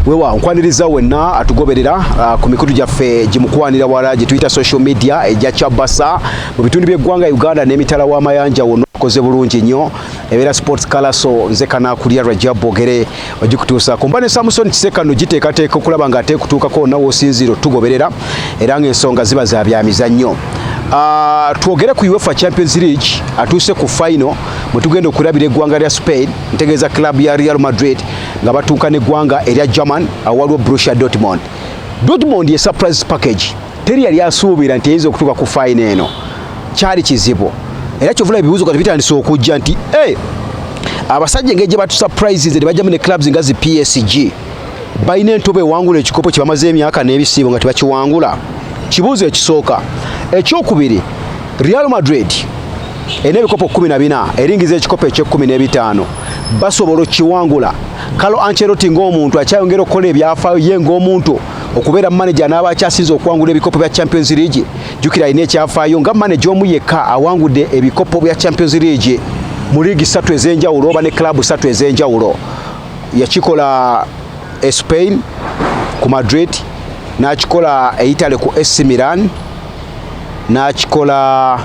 wewa nkwaniriza wenna atugoberera uh, ku mikutu gyaffe gimukwanira wala gye tuyita social media egya kyabasa mu bitundu by'eggwanga uganda n'emitala w'amayanja wonna okoze bulungi nnyo ebeera sports kalaso nze kanakulya rajab bogere ogikutuusa kumba ne samusoni kisekano giteekateeka okulaba nga ateekutuukako wonna woosinziira otugoberera era ng'ensonga ziba za byamizannyo ah, twogere ku uefa champions league atuuse ku final mwe tugenda okulabira eggwanga lya spain ntegeeza club ya real madrid nga batuuka n'eggwanga erya german awaliwo brusia dortmond dortmond ye surprise package teri yali asuubira nti eyinza okutuuka ku fayina eno kyali kizibu era kyovula ebibuuzo kati bitandise okujja nti e abasajja engeri gye batusurprises ne bajjamu ne clubs nga zi psg balina entobo ewangula ekikopo kye bamaze emyaka n'ebisiibo nga tebakiwangula kibuuzo ekisooka ekyokubiri real madrid erina ebikopo kumi na bina eringiza ekikopo ekyekumi n'ebitaano basobola okukiwangula kalo anceroti ng'omuntu akyayongera okukola ebyafaayo ye ng'omuntu okubeera maneja anaaba akyasinze okuwangula ebikopo bya champions league jukira alina ekyafaayo nga maneja omu yekka awangudde ebikopo bya champions league mu liigi satu ez'enjawulo oba ne club satu ez'enjawulo yakikola e spain ku madrid n'akikola e italy ku ac milan n'akikola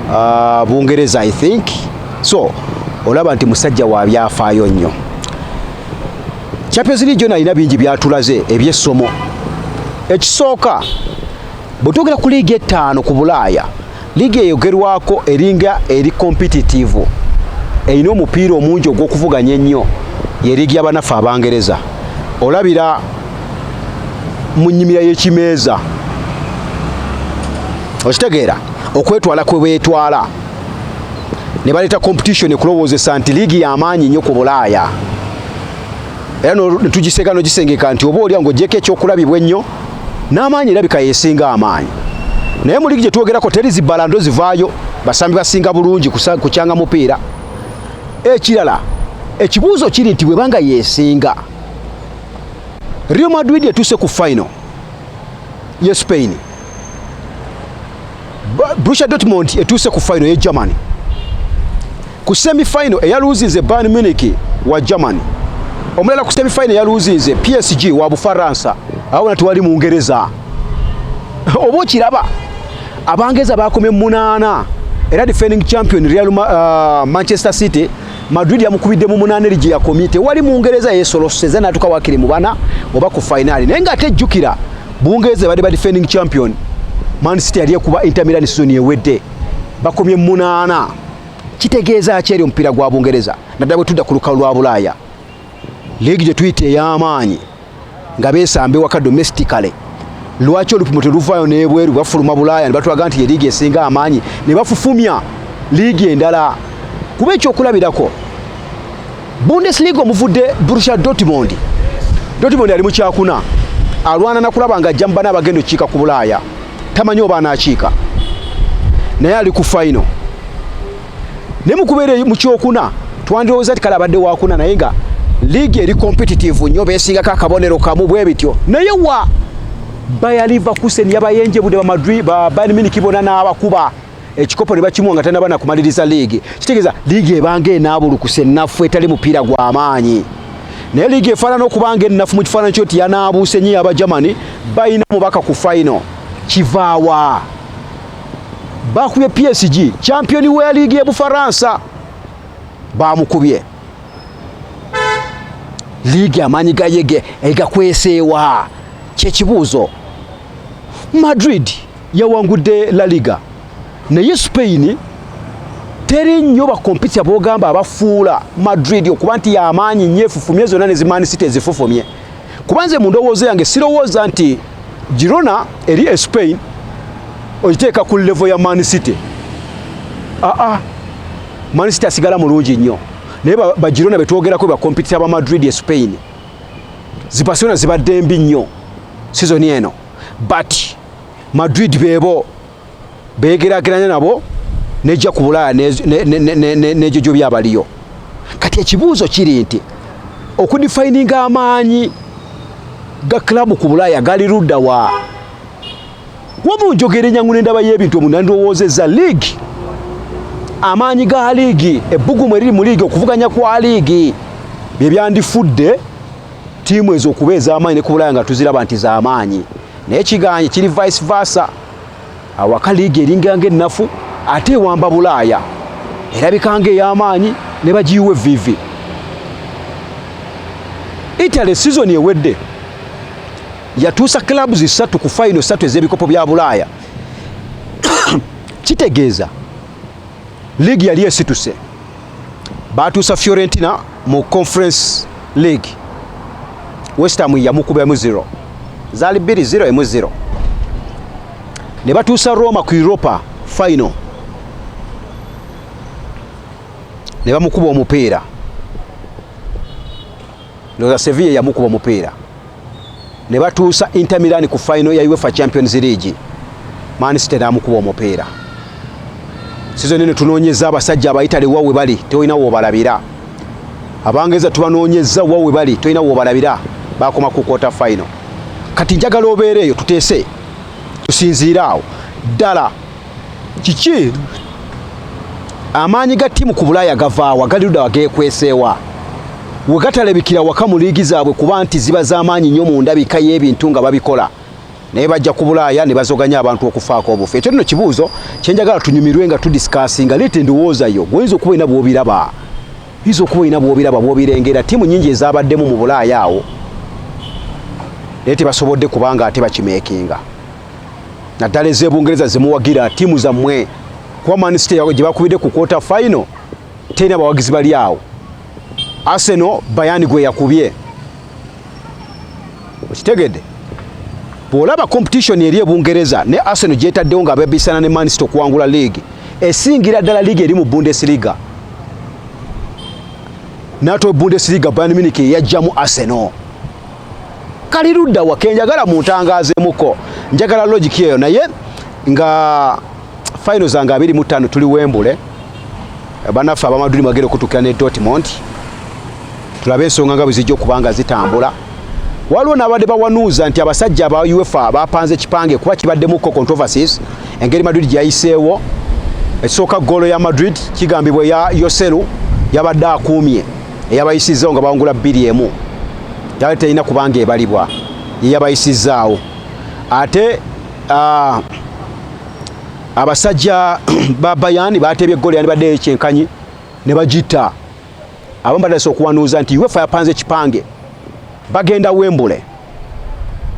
uh, bungereza i think so olaba nti musajja wa byafaayo nnyo Champions League yona alina bingi byatulaze ebyessomo. Ekisooka bwe twogera ku liigi ettaano ku Bulaaya, liigi eyogerwako eringa eri kompititivu erina omupiira omungi ogw'okuvuganya ennyo ye liigi y'abanaffe Abangereza. Olabira mu nnyimira y'ekimeeza okitegeera okwetwala kwe beetwala ne baleeta kompititioni kulowoozesa nti liigi y'amaanyi nnyo ku Bulaaya. era netugiseeka nogisengeka nti oba olya ngaogyeko ekyokulabibwa ennyo n'amaanyi erabika yesinga amaanyi naye mu ligi gye twogerako teri zibalando zivaayo basambi basinga bulungi kukyanga mupiira ekirala ekibuuzo kiri nti bwebanga yesinga real madrid etuuse ku final ye spain Borussia Dortmund etuuse ku final ye Germany ku semi final eyaluuzinze Bayern Munich wa Germany omulala ku semi final eyaluuzinze PSG wa Bufaransa awona tewali Mungereza oba okiraba Abangeza bakomye munaana era defending champion Real uh, Manchester City Madrid yamukubidde mu munaana eri gye yakomye tewali Mungereza yesoloseza n'atuka wakiri mu bana oba ku fainaali naye ng'ate jjukira Bungereza ebadde ba defending champion Man City yali ekuba Inter Milan sizoni ewedde bakomye munaana kitegeeza ki eri omupiira gwa Bungereza naddala bwe tudda ku lukalu lwa Bulaaya leegi gye tuyita ey'amaanyi nga beesamba ewaka domesticale lwaki olupimo teluvaayo n'ebweru bafuluma Bulaaya ne batulaga nti ye liigi esinga amaanyi ne bafufumya liigi endala kuba ekyokulabirako Bundesliga omuvudde Borussia Dortmund. Dortmund ali mu kyakuna alwana nakulaba nga ajja mu bana abagenda okukiika ku Bulaaya tamanyi oba anaakiika naye ali ku fayino naye mukubeera mu kyokuna twandirowooza nti kale abadde wakuna naye nga liigi eri competitive nnyo beesingako akabonero kamu bwe bityo naye wa bayaliva kusen yabayenjebudde bamadri ba bayern munich bona n'abakuba ekikopo ne bakimuwa nga tanaba nakumaliriza liigi kitegeeza liigi ebanga enaabulukusa ennafu etali mupiira gwa maanyi naye liigi efaanana okubanga ennafu mu kifaananyi kyo nti yanaabuuse nnyo yaba germany balina omubaka ku faino kivaawa bakubye psg champiyoni wa liigi e bufaransa bamukubye liigi amaanyi gayege egakweseewa kyekibuuzo madrid yawangudde La Liga naye Spain teri nnyo bakompitya bogamba abafuula Madrid okuba nti yamaanyi nnyo efufumye zonna ne zimaani city ezifufumye kuba nze mu ndowooza yange sirowooza nti Girona eri e Spain ogiteeka ku levo ya Man City aa ah, ah. Man City asigala mulungi nnyo naye ba Girona be twogerako ba kompitita ba Madrid e Spain zi Barcelona zibadde mbi nnyo sizoni eno but madrid bebo beegerageranya nabo nejja ku bulaaya n'egyo gyo byabaliyo kati ekibuuzo kiri nti okudifayininga amaanyi ga club ku bulaaya gali ludda wa wamu njogera enyangu n'endaba y'ebintu omunandowoozeeza liigi amaanyi ga liigi ebbugumu eriri mu liigi okuvuganya kwa liigi bye byandifudde ttiimu ezo okuba ez'amaanyi ne ku bulaya nga tuziraba nti z'amaanyi naye kiganye kiri vice versa awaka liigi eringa ng'ennafu ate ewamba bulaaya erabika nga ey'amaanyi ne bagiyiwa evviivi italy sizoni ewedde yatuusa clubs ssatu ku fayino ssatu ez'ebikopo bya bulaaya kitegeeza League yali esituse, baatuusa Fiorentina mu Conference League, West Ham yamukuba emu zero, zaali bbiri zero emu zero, ne batuusa Roma ku Europa final ne bamukuba omupiira. Loza Sevilla yamukuba mupiira ne batuusa Inter Milan ku final ya UEFA Champions League, Man City n'amukuba omupiira. Sizoni eno tunoonyezza abasajja Abaitale wa we bali, tolina w'obalabira. Abangereza tubanoonyezza wa we bali, tolina w'obalabira, baakoma ku quarter final. Kati njagala obeereeyo tuteese, tusinziire awo ddala. kiki amaanyi ga ttiimu ku bulaaya gavaawa gali ludawa geekweseewa we gatalabikira waka mu liigi zaabwe kuba nti ziba z'amaanyi nnyo mu ndabika y'ebintu nga babikola naye bajja ku bulaaya ne bazoganya abantu okufaako obufu ekyo nno kibuuzo kye njagala tunyumirwe nga tudisikasinga leeta endowooza yo gwoyinza okuba olina bw'obiraba yinza okuba olina bw'obiraba bw'obirengera ttiimu nnyingi ezaabaddemu mu bulaaya awo naye tebasobodde kubanga ate bakimeekinga naddala ez'ebungereza zemuwagira tiimu zammwe kuba manisite gye bakubidde ku kwota fayino terina bawagizi bali awo aseno bayani gwe yakubye okitegedde bw'olaba competition eri ebungereza ne aseno gyetaddewo nga bebisana ne manisite okuwangula liigi esingira ddala liigi eri mu bundesliga nato bundesliga bayani miniki eyajjamu aseno kali ludda wa kenjagala mu ntangazo emuko njagala logic eyo naye nga final zange abiri mu ttaano tuli wembule banaffe abamaduli mwagere okutuukira ne dortmond tulabe ensonga nga bwe zijja okuba nga zitambula waliwo n'abadde bawanuuza nti abasajja aba uefa bapanze ekipange kuba kibaddemuko controversies engeri madrid gyeyayiseewo ekisooka goolo ya madrid kigambibwa eya yoselu yabadde akuumye eyabayisizzawo nga bawangula bbiri emu yali terina kubanga ebalibwa yeyabayisizzaawo ate ah, abasajja ba bayani bateebye eggole yandibadde ekyenkanyi ne bagitta abamu batandise okuwanuuza nti uefa yapanze ekipange bagenda wembule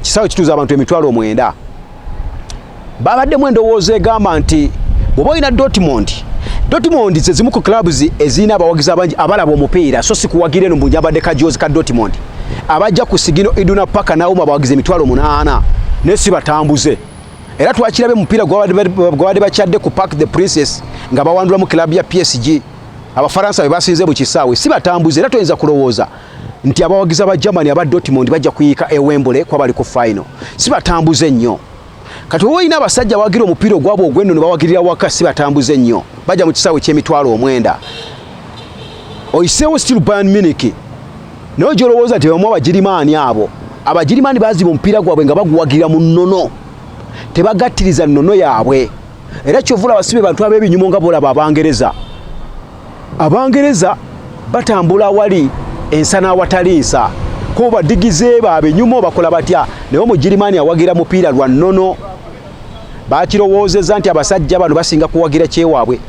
kisaawe kituuza abantu emitwalo omwenda babaddemu endowooza egamba nti bwoba olina dortmond dortmond ze zimu ku clubs ezirina abawagizi abangi abalaba omupiira so si kuwagira eno mbunyabadde kajoozi ka dortmond abajja ku sigino iduna paka nawoma abawagizi emitwalo munaana naye si batambuze era twakirabe mupiira gwabadde bakyadde ku park the princess nga bawandulamu club ya psg abafaransa be basinze bukisaawe si batambuze era toyinza kulowooza nti abawagizi aba Germany aba Dortmund bajja kuyiika e Wembley kuba bali ku final. Si batambuze nnyo. Kati wowe olina abasajja abawagira omupiira ogwabwe ogw'enno ne bawagirira waka si batambuze nnyo. Bajja mu kisaawe ky'emitwalo omwenda. Oyiseewo still Bayern Munich. Naye gy'olowooza nti bamu Abagirimaani abo. Abagirimaani baziba omupiira gwabwe nga baguwagira mu nnono. Tebagattiriza nnono yaabwe. era kyovula abasibe bantu abebinyumo nga bolaba abangereza abangereza batambula awali ensa n'awatali nsa ko badigize ba abenyumo bakola batya naye omugirimani awagira mupiira lwa nnono bakirowoozezza nti abasajja bano basinga kuwagira kyewaabwe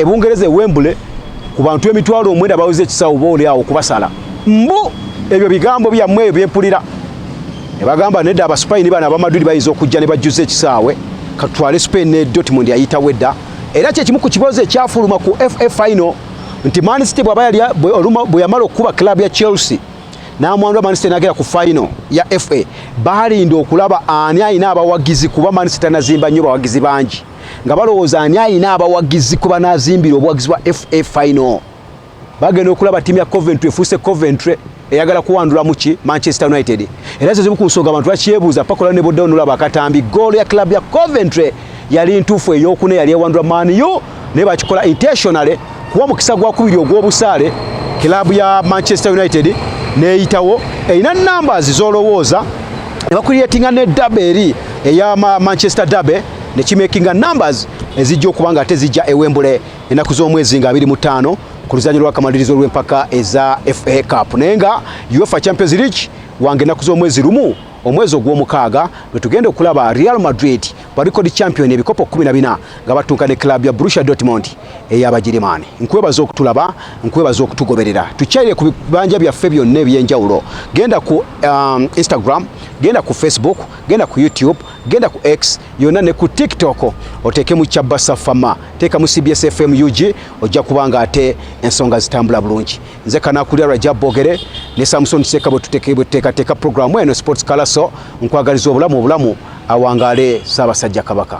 ebungereza e, e, e, ewembule ku bantu emitwalo omwenda baweza ekisawo boolyawo okubasala mbu ebyo bigambo byammwe ebyo byempulira ne bagamba nedda abasupayini bano abamadudi bayinza okujja ne bajjuza ekisaawe katutwale spain ne dortmund yayitawo edda era kyekimu ku kibozi ekyafuluma ku fa final nti mancity bwaba yali bwe yamala okukuba club ya chelsea n'amwandu mancity nagera ku final ya fa balinda okulaba ani alina abawagizi kuba mancity tanazimba nnyo bawagizi bangi nga balowooza ani alina abawagizi kuba nazimbira obuwagizi bwa fa final bagenda okulaba ttiimu ya coventry efuuse coventry eyagala kuwandulamu ki manchester united era zezimu ku nsonga abantu bakyebuuza pakola ne boddawo nolaba akatambi goolo ya club ya coventry yali ntuufu eyokuna yali ewandula maniu naye bakikola intentionally kuwa mukisa gwakubiri ogw'obusaale club ya manchester united neyitawo erina numbers zolowooza nebakuliyetinga ne dabe eri eya manchester dabe nekimakinga numbers ezijja okuba nga tezijja ewembule ennaku z'omwezi nga abiri mu ttaano ku luzanyo lwakamalirizo lw'empaka eza fa cup naye nga uefa champions league wange ennaku z'omwezi lumu omwezi ogw'omukaaga lwe tugenda okulaba real madrid balikodi champion ebikopo 14 nga batunka ne club ya brusha dortmund ey'abagirimani nkwebaza okutulaba nkwebaza okutugoberera tukyalire ku bibanja byaffe byonna ebyenjawulo genda ku um, instagram genda ku facebook genda ku youtube genda ku x yona ne ku tiktok oteekemu kyabasa fama teeka mu cbs fm ug ojja kuba nga ate ensonga zitambula bulungi nze kanakulya raja bogere ne samson seeka bwetuteekateeka programu eno sports kalaso nkwagaliza obulamu obulamu awangaale saabasajja kabaka